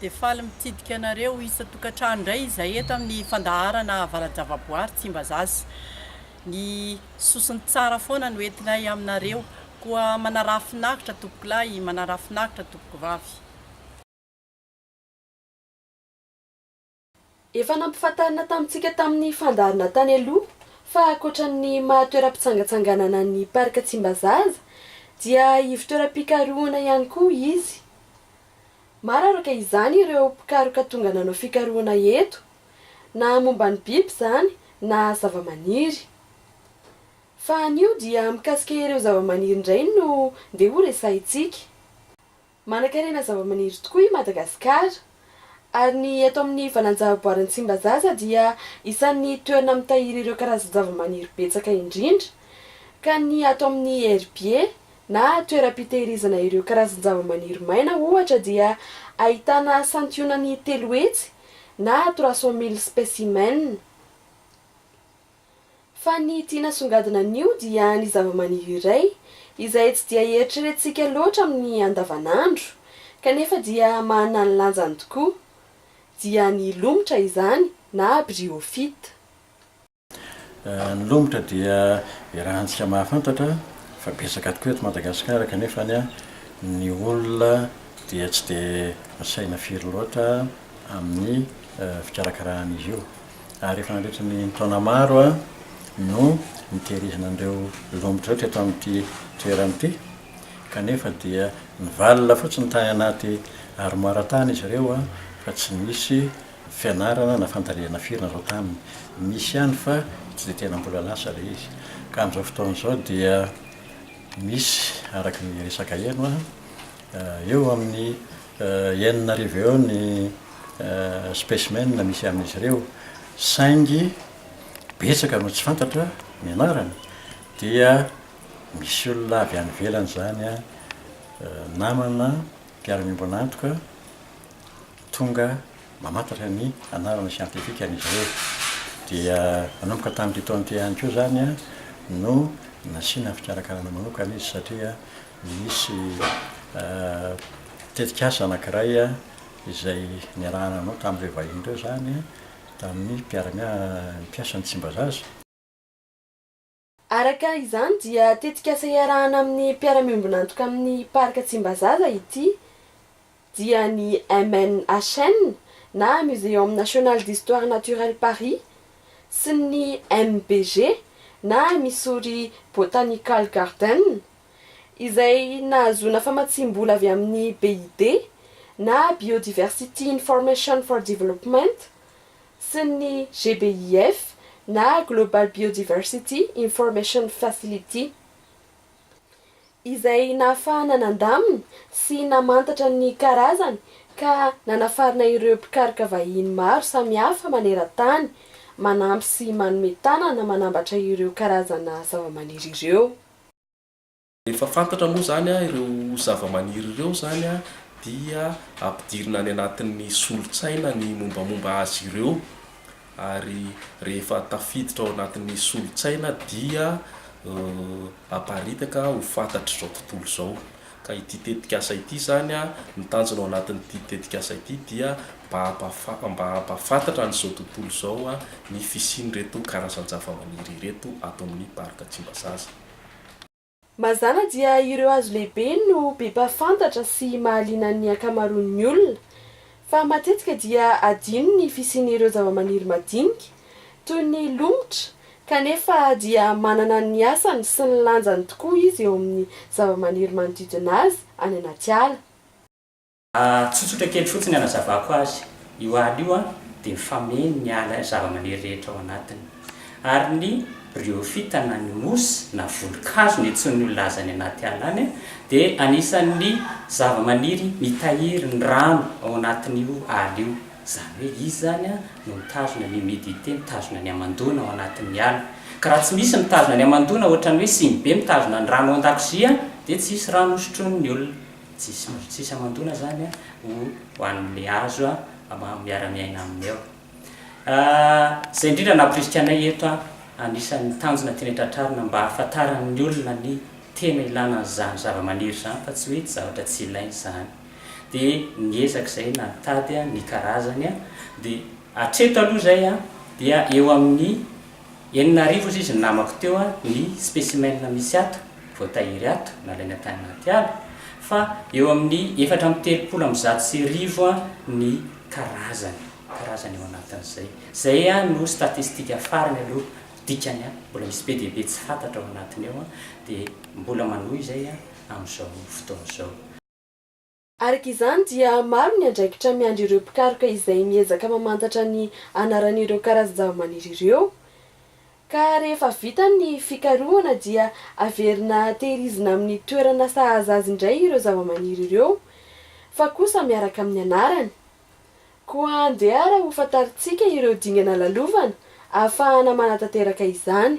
Dia faly mitsidika anareo isan-tokantrano indray izahay eto amin'ny fandaharana Avarajavaboary Tsimbazaza. Ny sosony tsara foana no entinay aminareo, koa manaraha finaritra tompokolahy, manaraha finaritra tompokovavy. Efa nampifantarina tamintsika tamin'ny fandaharana tany aloha fa ankoatra ny maha toeram-pitsangatsanganana ny Parc Tsimbazaza dia ivon-toeram-pikarohana ihany koa izy. Maro araka izany ireo mpikaroka tonga nanao fikarohana eto, na momba ny biby izany na zavamaniry. Fa anio dia mikasika ireo zavamaniry indray no ndeha horesahintsika. Manankarena zavamaniry tokoa i Madagasikara, ary ny eto amin'ny valanjavaboarin'i Tsimbazaza dia isan'ny toerana mitahiry ireo karazan-javamaniry betsaka indrindra, ka ny ato amin'ny herbiers na toeram-pitehirizana ireo karazan-javamaniry maina ohatra dia ahitana santionany telo hetsy na trois cent mille spécimens. Fa ny tiana asongadina anio dia ny zavamaniry iray izay tsy dia eritreretintsika loatra amin'ny andavanandro kanefa dia manana ny lanjany tokoa, dia ny lomotra izany na bryophyte. Ny lomotra dia iarahantsika mahafantatra fa betsaka tokoa eto Madagasikara kanefa ny ny olona dia tsy dia misaina firy loatra amin'ny fikarakaran'izy io. Ary efa nandritra ny taona maro no nitehirizina an'ireo lomotra ireo teto amin'ity toerana ity, kanefa dia nivalona fotsiny tany anaty armoire tany izy ireo fa tsy nisy fianarana na fandalinana firy natao taminy. Misy ihany fa tsy dia tena mbola lasa ilay izy. Ka amin'izao fotoana izao dia misy, araka ny resaka heno aho, eo amin'ny Enina arivo eo ny specimens misy amin'izy ireo, saingy betsaka no tsy fantatra ny anarany, dia misy olona avy any ivelany izany, namana, mpiara-miombon'antoka, tonga mamantatra ny anarana siantifikan'izy ireo. Dia nanomboka tamin'ity taona ity ihany koa izany no nasiana fikarakarana manokana izy satria Nisy tetikasa anankiray izay niarahana nanao tamin'ireo vahiny ireo izany, tamin'ny mpiara-miasa, ny mpiasan'ny Tsimbazaza. Araka izany dia tetikasa iarahana amin'ny mpiara-miombon'antoka amin'ny Parc Tsimbazaza ity. dia ny MNHN na Muséum National d'Histoire Naturelle Paris sy ny MBG na Missouri Botanical Garden, izay nahazoana famatsiam-bola avy amin'ny BID na Biodiversity Information for Development sy ny GBIF na Global Biodiversity Information Facility. izay nahafahana nandamina sy namantatra ny karazany ka nanafarana ireo mpikaroka vahiny maro samihafa maneran-tany manampy sy manome tanana manambatra ireo karazana zavamaniry ireo. Rehefa fantatra moa izany ireo zavamaniry ireo izany dia ampidirina any anatin'ny solontsaina ny mombamomba azy ireo ary rehefa tafiditra ao anatin'ny solontsaina dia aparitaka ho fantatr'izao tontolo izao ka ity tetikasa ity izany a, ny tanjona ao anatin'ity tetikasa ity dia mba hampafa- mba hampahafantatra an'izao tontolo izao a ny fisian'ireto karazan-javamaniry ireto ato amin'ny Parc Tsimbazaza. Mazàna dia ireo hazo lehibe no be mpahafantatra sy mahaliana ny ankamaroan'ny olona, fa matetika dia adino ny fisian'ireo zavamaniry madinika, toy ny lomotra, kanefa dia manana ny asany sy ny lanjany tokoa izy eo amin'ny zavamaniry manodidina azy any anaty ala. Tsotsotra kely fotsiny ny anazavako azy, io ala io dia mifameno ny ala zavamaniry rehetra ao anatiny. Ary ny bryophyta na ny mousse na volonkazo no iantsoan'ny olona azy any anaty ala any dia anisan'ny zavamaniry mitahiry ny rano ao anatin'io ala io. Izany hoe izy izany no mitazona ny humidité, mitazona ny hamandoana ao anatin'ny ala. Ka raha tsy misy mitazona ny hamandoana, ohatran'ny hoe sinibe mitazona ny rano ao an-dakozia, dia tsy hisy rano hosotroin'ny olona. Tsisy azo tsisy amandoana zany a ho anle azo a mba miara miaina aminy eo. Zay indrindra nampirisika anay eto a, anisan'ny tanjona tianay tratrarina mba ahafantaran'ny olona ny tena ilana an'izany zavamaniry izany fa tsy hoe zavatra tsy ilaina izany. Dia niezaka izay na nitady a ny karazany a, dia hatreto aloha izay a dia eo amin'ny Enina arivo hozy izy namako teo a ny specimen misy ato, voatahiry ato, nalaina tany anaty ala, fa eo amin'ny efatra amby telopolo amby zato sy arivo a ny karazany, karazany ao anatin'izay. Izay a no statistika farany aloha, dikany a mbola misy be dia be tsy fantatra ao anatiny ao a, dia mbola manohy izay a amin'izao fotoana izao. Araka izany dia maro ny andraikitra miandry ireo mpikaroka izay miezaka mamantatra ny anaran'ireo karazan-javamaniry ireo. Ka rehefa vita ny fikarohana dia averina tehirizina amin'ny toerana sahaza azy indray ireo zavamaniry ireo fa kosa miaraka amin'ny anarany. Koa andehara ho fantarintsika ireo dingana lalovana ahafahana manatanteraka izany.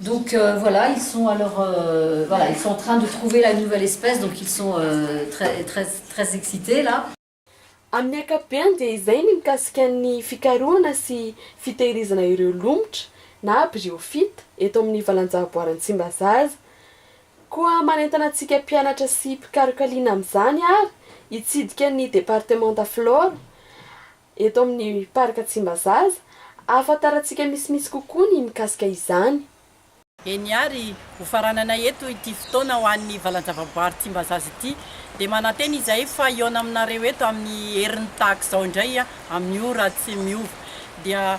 Donc voilà, ils sont alors voilà, ils sont en train de trouver la nouvelle espèce donc ils sont très très très excités là. Amin'ny ankapobeany dia izay ny mikasika ny fikarohana sy fitehirizana ireo lomotra na bryophytes eto amin'ny valan-javaboary Antsimbazaza. Koa manentana antsika mpianatra sy mpikaroka liana amin'izany ary hitsidika ny departemanta Flore Eto amin'ny Parc Tsimbazaza, ahafantarantsika misimisy kokoa ny mikasika izany. Eny ary, ho faranana eto ity fotoana ho an'ny valan-javaboary Tsimbazaza ity, dia manantena izahay fa hihaona aminareo eto amin'ny herin'ny tahaka izao indray amin'ny ora tsy miova. Dia.